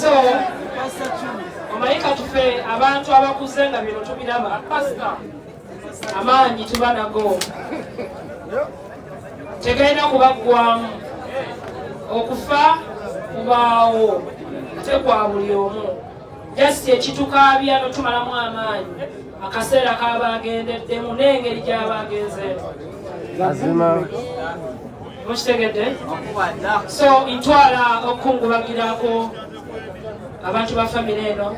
so omanyi katufe abantu abakuze nga bino tubiraba amaanyi tuba nago tegalina kubaggwamu okufa kubaawo ate kwa buli omu jasiti ekitukaabya notumalamu amaanyi akaseera kabaagendeddemu n'engeri gyaba agenzeemu mazima mukitegedde so ntwala okukungubagirako abantu ba famire eno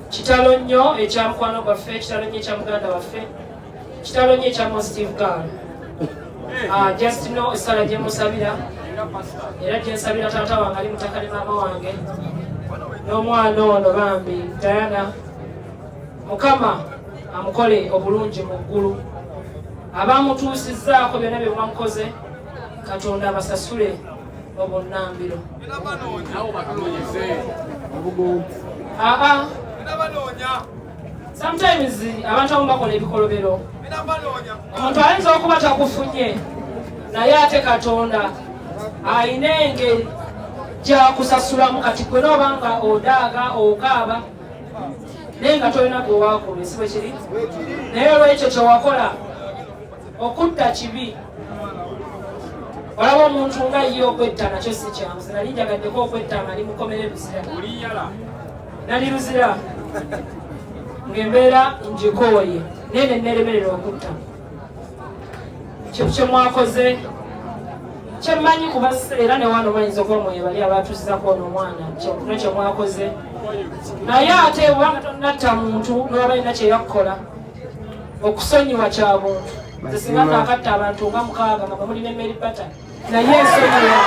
kitalo nnyo ekya mukwano gwaffe kitalo nnyo ekya muganda waffe kitalo nnyo ekya mostive gal ah, just no esala gyemusabira era gyensabira taata wange ali mutakali maama wange n'omwana ono bambi diana mukama amukole obulungi mu ggulu abamutuusizzaako byonna bye mwamukoze katonda abasasule obunnambiro aa sometimes abantu abamu bakola ebikolobero omuntu ayinza okuba takufunye naye ate katonda alina engeri gyakusasulamu kati gwe noba nga odaaga okaaba naye nga tolina gwe wakulwa si bwe kiri naye olwekyo kye wakola okutta kibi olaba omuntu nga ye okwetta nakyo si kyangu zinali njagaddeko okwetta nga ndi mukomere luzira nali luzira ng'embeera njikooye naye ne nneremerera okutta kye mwakoze kyemmanyi kuba era ne wano bayinza okuba mwebali abaatuuzizako ono omwana kyokuno kye mwakoze naye ate obanga tonatta muntu noba balina kye yakkola okusonyiwa kya buntu nze singa naakatta abantu nga mukaaga nga bamuli ne mary pattern naye ensonyiwa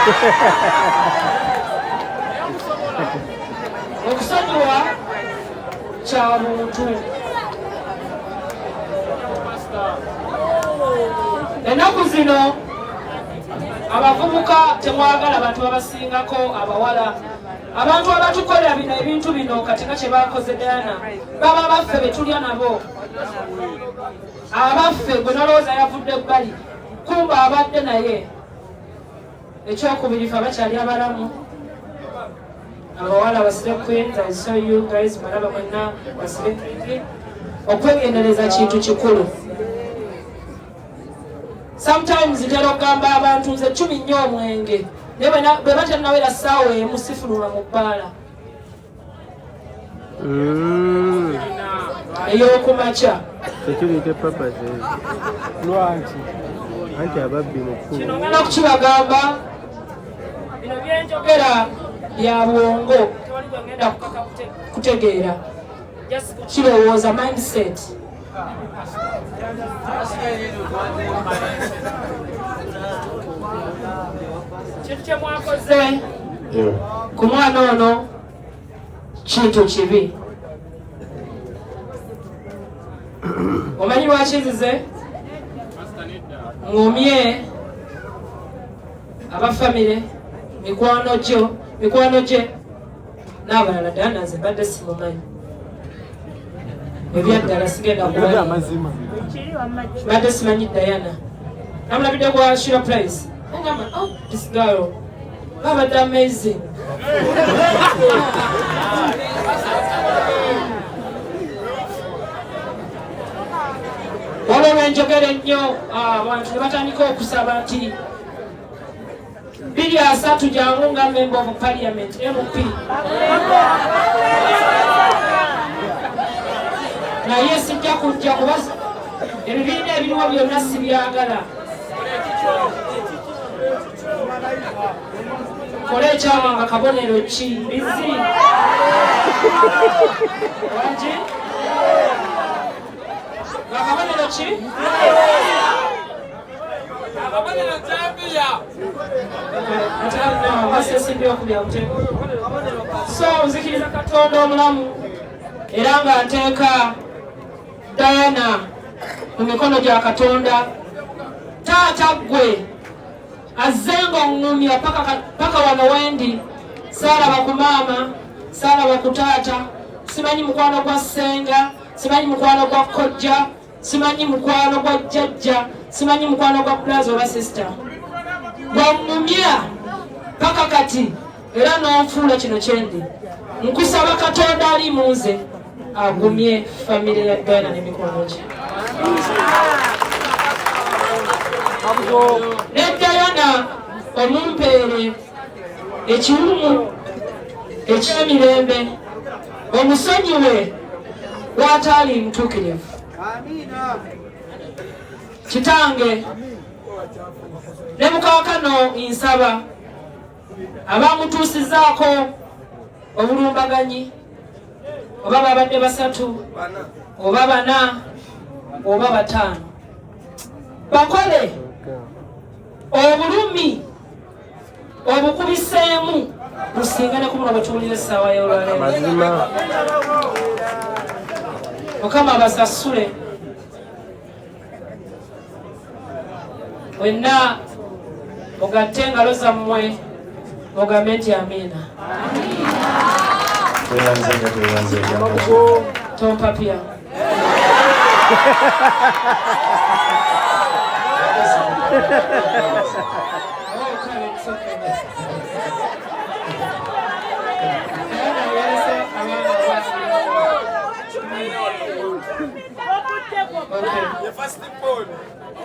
okusonyiwa kya muntu ennaku zino abavubuka temwagala bantu babasingako abawala abantu abatukolera bino ebintu bino katinga kyebakoze diana baba baffe betulya nabo abaffe gwe nalowooza yavudde ebbali kumba abadde naye ekyokubiri fe abakyali abalamu abawala basire queens i saw you guys balaba mwenna basire kingi okwegendereza kintu kikulu sometimes ntera okugamba abantu nze cumi nnyo omwenge naye bwe batanawera saawa emu sifuluma mu bbaala mm. eyokumakya tekiriite papa ze lwaki anti ababbi mukulu kino ngala kukibagamba bino byenjogera bya bwongo tewali gwengenda kutegeera kirowooza mindset kintu kyemwakoze ku mwana ono kintu kibi omanyi lwaki nzize ngumye abafamire mikwano gyo mikwano gye n'abalala ddala nanze mbadde simumanyi ebyaddala sigenda kuamazima mbadde simanyi dayana namulabidde kwa shira price ogamba oh, oh this girl babadde amazing waliwo lwenjogera ennyo ah, abantu ne batandika okusaba nti biri asatu jangu nga member of parliament mp naye sijja kujja kuba ebibiina ebiriwo byonna sibyagala kola ekyama nga kabonero ki bizi waki nga kabonero ki so nzikiriza katonda omulamu era nga nteeka dayana mu mikono gya katonda taata ggwe azze ngaoŋŋumya paka wano wendi saalaba ku maama saalaba ku taata simanyi mukwano gwa ssenga simanyi mukwano gwa kojja simanyi mukwano gwa jjajja simanyi mukwano gwa bulazi oba sisita gwamumya paka kati era n'onfuula kino kyendi nkusaba katonda ali mu nze agumye famire ya ghana n'emikwano gye ne dayana omumpeere ekiwumu eky'emirembe omusonyiwe wataali mutuukirivu kitange ne mukakano nsaba abamutuusizaako obulumbaganyi oba babadde basatu oba bana oba bataano bakole obulumi obukubiseemu businga ne kubuno bwetuwulira essaawa y'olwaleero mukama basasule wenna mugatte engalo zammwe mugambe nti amiina tompapya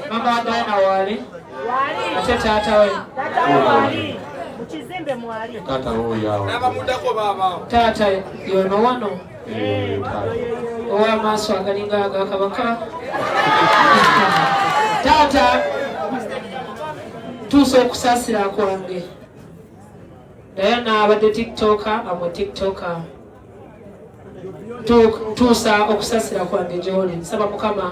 Mama Diana wali ate taata we taata yono wano ow'amaaso agalinga aga kabaka taata tuusa okusaasira kwange dayana abadde tiktoka amwe tiktoka tuusa okusaasira kwange gyoli nsaba mukama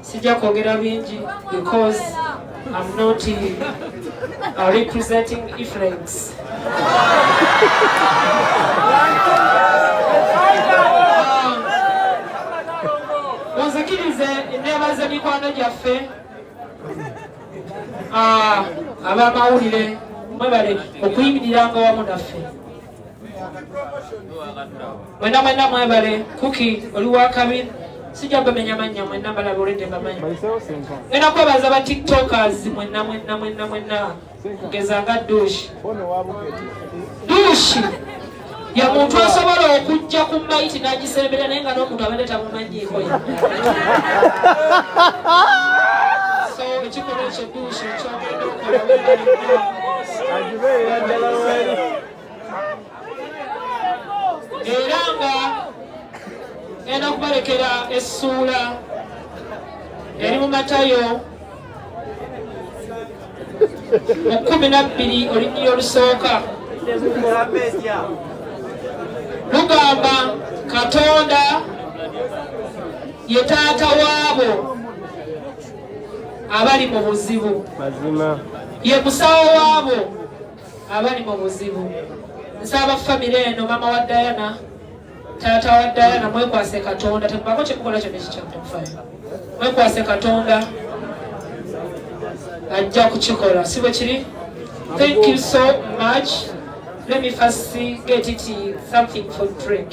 sijja kwogera bingi because I'm not uh, representing Ephraim's. Munzikirize uh, enneebaza mikwano gyaffe uh, ab'amawulire mwebale okuyimiriranga wamu naffe mwena mwena mwebale kuki oli wakabi sijja bamenya mannya mwena balaba olwedde bamanyi mwena kwebaza ba tiktokers mwena mwena mwena mwena kugeza nga dushi dushi ye muntu asobola okujja ku mayiti nagisembera naye nga n'omuntu abadde tamumanyiiko ye so ekikolwa ekyo era nga enda kubalekera essuula eri mu matayo mu kumi nabbiri olunyiri olusooka lugamba katonda ye taata waabo abali mu buzibu ye musawo waabo abali mu buzibu nsaba famire eno mama wa dayana taata wa dayana mwekwase katonda tebako kyemukola kyona ekikyamutakufayo mwekwase katonda ajja kukikola si bwe kiri thank you so much let me first see, get it something for drink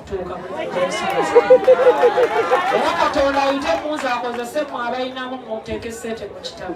era katonda ayite muzi akozese mu abalinamu muteeka esente mu kitabo